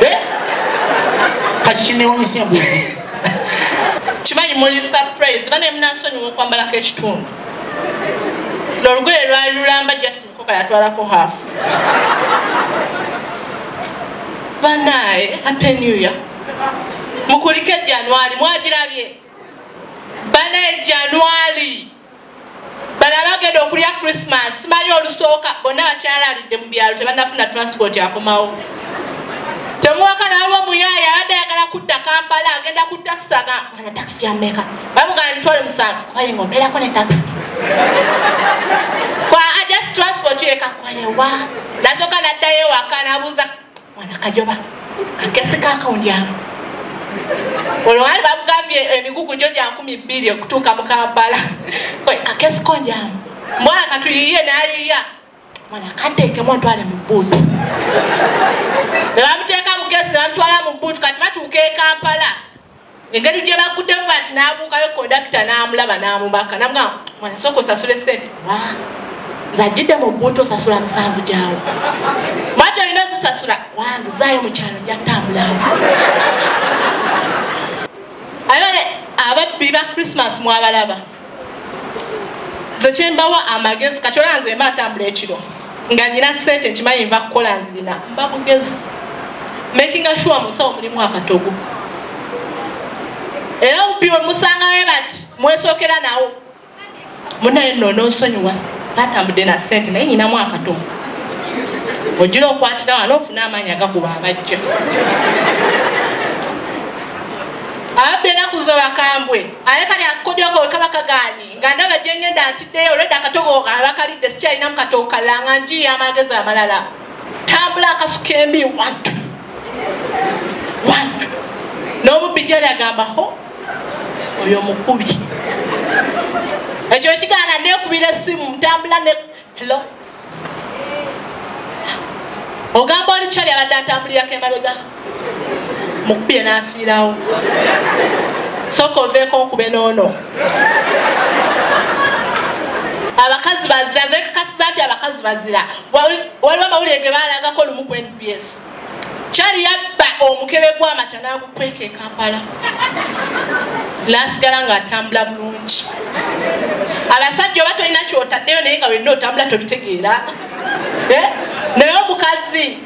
eh? kati kinewunyisa embuzi kimanyi muli surprise bana emunasonyiwa okwambalako ekitundu nolugoye lwali lulamba just mukoka yatwalako half banaye happy new year mukulike januari mwagirabye banaye januari bano abagenda okulya christmas simanyi olusooka bonna bakyalalidde mu byalo tebanafuna transport akomawo temuwaka nalwo omuyaaye abadde ayagala kudda kampala agenda ku takisi aga ana takisi yameka bamugana mitwale musanvu kwaye nga omperako ne takisi kwa ajust transport yeka kwayewa nasoka naddayo ewaka nabuuza mwana kajoba kakesi kakawundyanga olwo wali bamugambye emigugu gyo gya nkumi bbiri okutuuka mu kampala kakesi konjamu mwana katuyiye nayiya mwana kanteekemu ntwale mu bbuutu ne bamuteeka mugezi namutwala mu bbuutu kati batuuka e kampala engeri gye baguddemu bati n'abuukayo kondakita n'amulaba n'amubaka namugamba mwana sooka osasule sente zajjidde mu bbuutu osasula musanvu gyawo mwati olina ozisasula wanze zaayo mu kyalo njatambulawo ababbi ba christmas mwabalaba nze kyembawa amagezi kati olaba nze mba ntambula ekiro nga nyina sente nkimanyi nva kukola nzirina mba mugezi makinga sure musawo mulimu akatogo era upi wemusangawe bati mwesokera nawo munaye no nonsonyiwa satambudde na sente naye nyinamu akatogo ojira okwatira wano ofuna amaanyi agakuba abajja abadde nakuza bakambwe aye kali akodyoko wekaba kaganye nga ndaba gyengenda ntiddeyo olwedde akatogo abakalidde sikyalinamu katogo kalanga njiya amagezi amalala tambula akasuka embi wantu wantu n'omubbi gyali agamba ho oyo mukubi ekyo ekigaana nekubira essimu ntambula ne helo ogamba oli kyali abadde atambulirako emabega mukubye n'afiirawo soka oveeko nkube noono abakazi bazira nze kakasiza nti abakazi bazira waliwo amawulire ge baalagako lumu ku nbs kyali yabba omukebe gwamata nagukweka ekampala nasigala nga atambula bulungi abasajja oba tolina kyotaddeyo naye nga wenna otambula tobitegeera eh? naye omukazi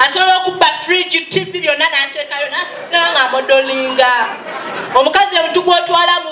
asobola okubba fridge tv byonna nateekayo nasigala nga amodolinga omukazi omutu gwotwala mu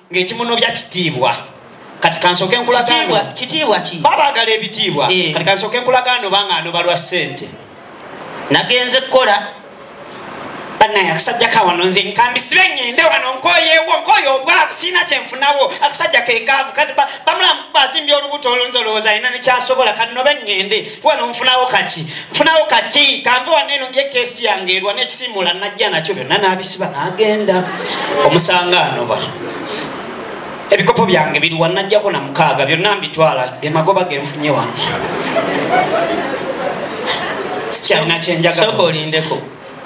ng'ekimunobya kitiibwa kati kansooke nkulagaano kitiibwa ki babaagala ebitiibwa eh. kati kansooke nkulagaano banga anoba lwa ssente nagenze kukola banaye akasajja kawano nze nkambisibe ngende wano nkoyewo nkoye obwavu siina kyenfunawo akasajja kekaavu kati bamulamu bazimbye olubuto olunzi olowooza alina nekyasobola kati nobe ngende wano nfunawo kaki nfunawo kaki kanve wano eno ndyekesi yange erwa nekisimula najja nakyo byonna nabisiba nagenda omusanga anoba ebikopo byange biriwa najjako na mukaaga byonna mbitwala gemagoba genfunye wano sikyalina kyenjagaolindeko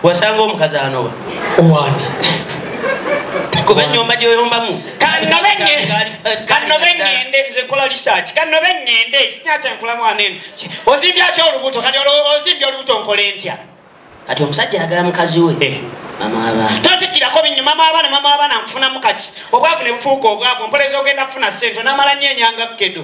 wasanga omukazi anoba owandi kuba enyumba gyoyombamu kanobe ngende nze nkola research kanobe ngende sinyakyenkola mwana eno ozimbya ki olubuto kati ozimbya olubuto nkola ntya kati omusajja ayagala mukazi we eh. totikirako binyo mama abaana mama abaana nkufunamu kati obwavu ne bufuuka obwavu mpoleza ogenda kufuna sente onamala nyo enyanga kedo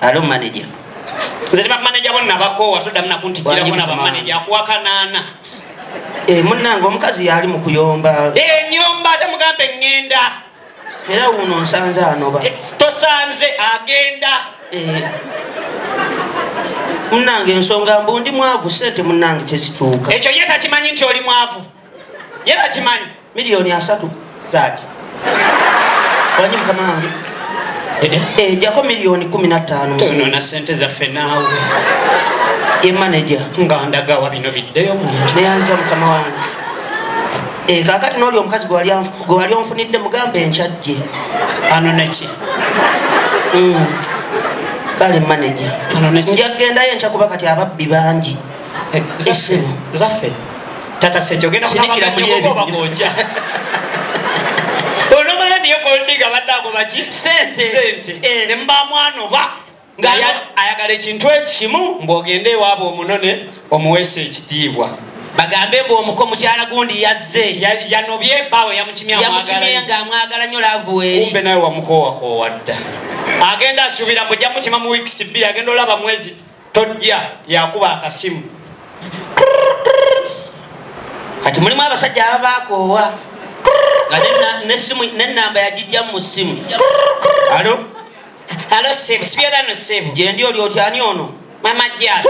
alo manager nze ne bamaneja bo nabakoowa toddamu nakuntikkirako na bamaneja akuwa kanaana eh, munnange omukazi yaali mu kuyomba enyomba eh, ate mugambe ŋŋenda era wuno nsanze anoba eh, tosanze agenda munnange ensonga mbu ndi mwavu sente munnange tezituuka ekyo ye takimanyi nti oli mwavu ye bakimanyi miliyoni asatu zaki wanyi mukama wange ejako eh, eh, miliyoni kumi nattaano tonona sente zaffe naawe ye maneja nga ndagawa bino biddeyo muntu neyanziza mukama wange eh, kakati nooli omukazi gwe wali onfunidde mugamba enkyajje ano neki mm. kale maneja njagendayo enkya kuba kati ababbi bangi eh, zaffe zaffe tata sejo genda sinikira muli ebi obagoja ono mwana ndiye goldiga badako baki sente sente eh. ne mba mwana oba ngaya ayagala ekintu ekimu mbogende ewabo omunone omuwese ekitiibwa bagambe mbu omuko mukyala gundi yazze yanobye bawe yamukimyayamukimeya nga amwagala nyo lavuweumbe nawe wamukowakowadda agenda asubira mbu jamukima mu weeks bbiri agenda olaba mwezi tojja yakuba akasimu kati mulimu abasajja ababakoowa nga nesimu nenamba yagijja mu simu alo alo sebo sibyerano sebo gyendi oli oti ani ono mama jas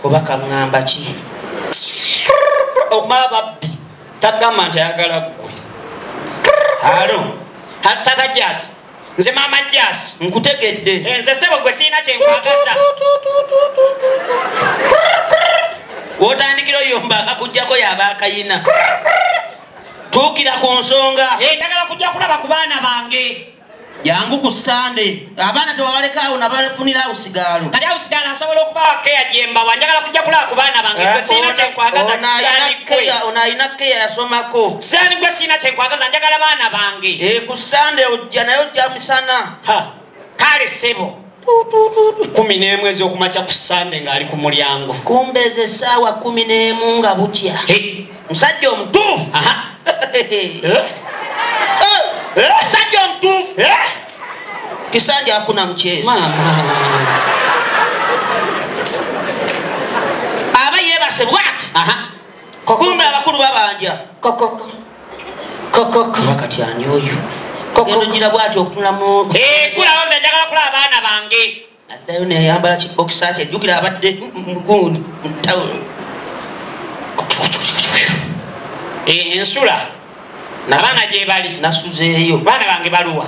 oba kaŋŋamba ki okumaba babbi tagamba nti ayagala gwe alo tata jasi nze mama jasi nkutegedde eh, nze sebo gwe siina kyenkwagaza wotandikira oyomba akakujjako yaba akayina tuukira ku nsonga eh, ndagala kujja kulaba ku baana bange jangu ku sande abaana tewabalekaawo nabafunirawo sigaalo kati awo sigaalo asobola okubawa keya gyembawa njagala kujja kulaba ku baana bange eh, siina kyenkwagaza ono alina keya yasomako saani gwe siina kyenkwagaza njagala baana bange eh, ku sande ojja naye ojja misana kale sebo kumi n'emu ez'okumakya ku sande ng'ali ku mulyango kumba ezo essaawa kumi n'emu nga butya musajja omutuufu musajja omutuufu kisanja akuna mukyezi aba yebase bwati kokumbe abakulu babanja kokoko kokoko wakati ani oyo kokogira bwati okutula mu eh kula waza njagala kula abaana bange addayo ne yambala ki box ate jukira abadde mugundi mutawo eh ensula nabana je bali nasuzeyo bana bange baluwa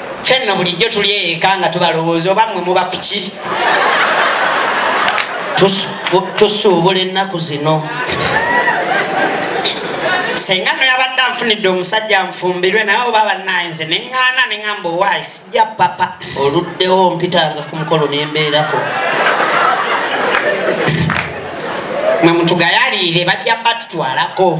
fenno bulijjo tuli eka nga tubalowooza oba mwe muba kuki tusuubula ennaku zino senga noyabadde anfunidde omusajja nfumbirwe naye oba banaye nze neŋŋaana neŋamba owaayi sijja papa oluddewo mpitanga ku mukolo nembeerako mwe mutugayaliire bajja batutwalako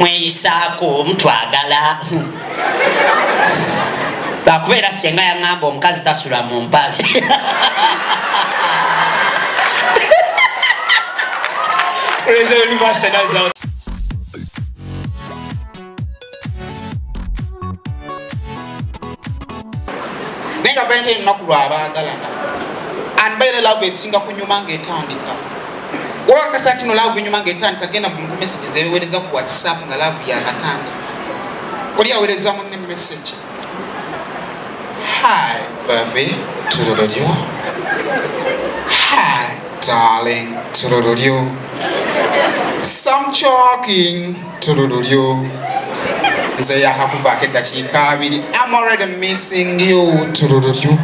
mweyisaako mutwagala lwakubeera senga yaŋamba omukazi tasula mu mpale Praise the Lord, naye nga balina ennaku lwabaagalana anbaire laavu esinga kunyuma ngaetandika wakakasa nti no laavu enyuma ngaetandika genda mu muntu message zewewereza ku whatsapp nga laavu yakatandika oli awereza munne message hi baby turururyo hi darling turururyo some choking tulu lulyo nze yakakuvaako eddakiika abiri am already missing you tulu lulyo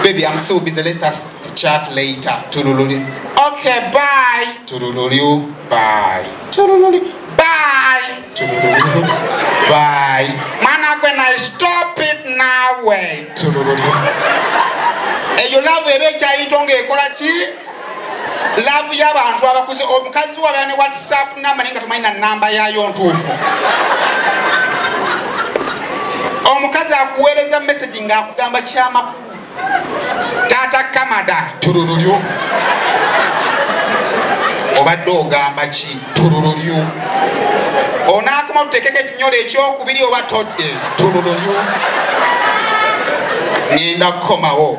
baby am so busy let us chat later tulu lulyo okay bye tulu lulyo bye tulu lulyo bye tulu lulyo bye mwana gwe na stop it nawe tulu lulyo eyo love eba ekyayinto nga ekola ki laavu y'abantu abakuze omukazi wabera ne whatsapp namba naye nga tomanyi na namba yaayo ntuufu omukazi akuweereza message ng'akugamba kyamakulu taata kamada tulululyo obadde ogamba ki tulululyo onaakoma tutekeko ekinyolo ekyokubiri oba todde tulululyo ngenda kukomawo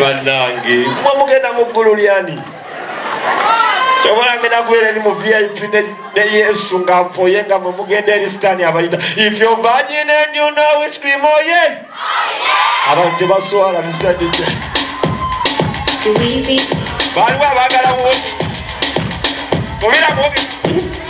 banange mwe mugenda mu ggulu lyani kyobolange nagwere ni mu vip ne yesu nga mpoye nga mwe mugenda eri sitani abayita if yo virgin and you know we scream oh yeah abantu tebaswala mr dj baliwo abagala mubira mubi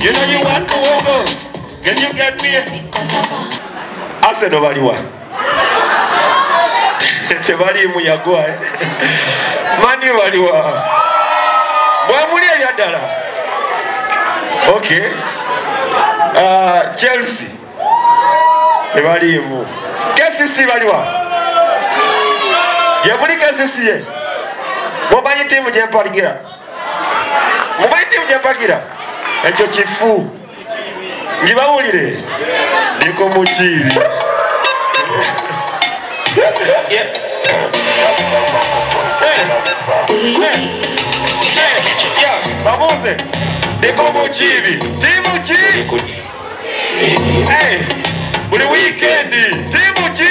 You know you want to over. Can you get me? Arsenal baliwa. Tebali mu yagwa. Eh? Mani baliwa. Bwa muli ya dala. Okay. Uh, Chelsea. Tebali mu. KCC baliwa. Yabuli KCC ye. Bobanyi timu je mpaligira. mubayitimu gyempagira ekyo kifu ngibawulire ndiko mukiibi babuuze ndiko mukiibi tiimu ki buli wiikendi tiimu ki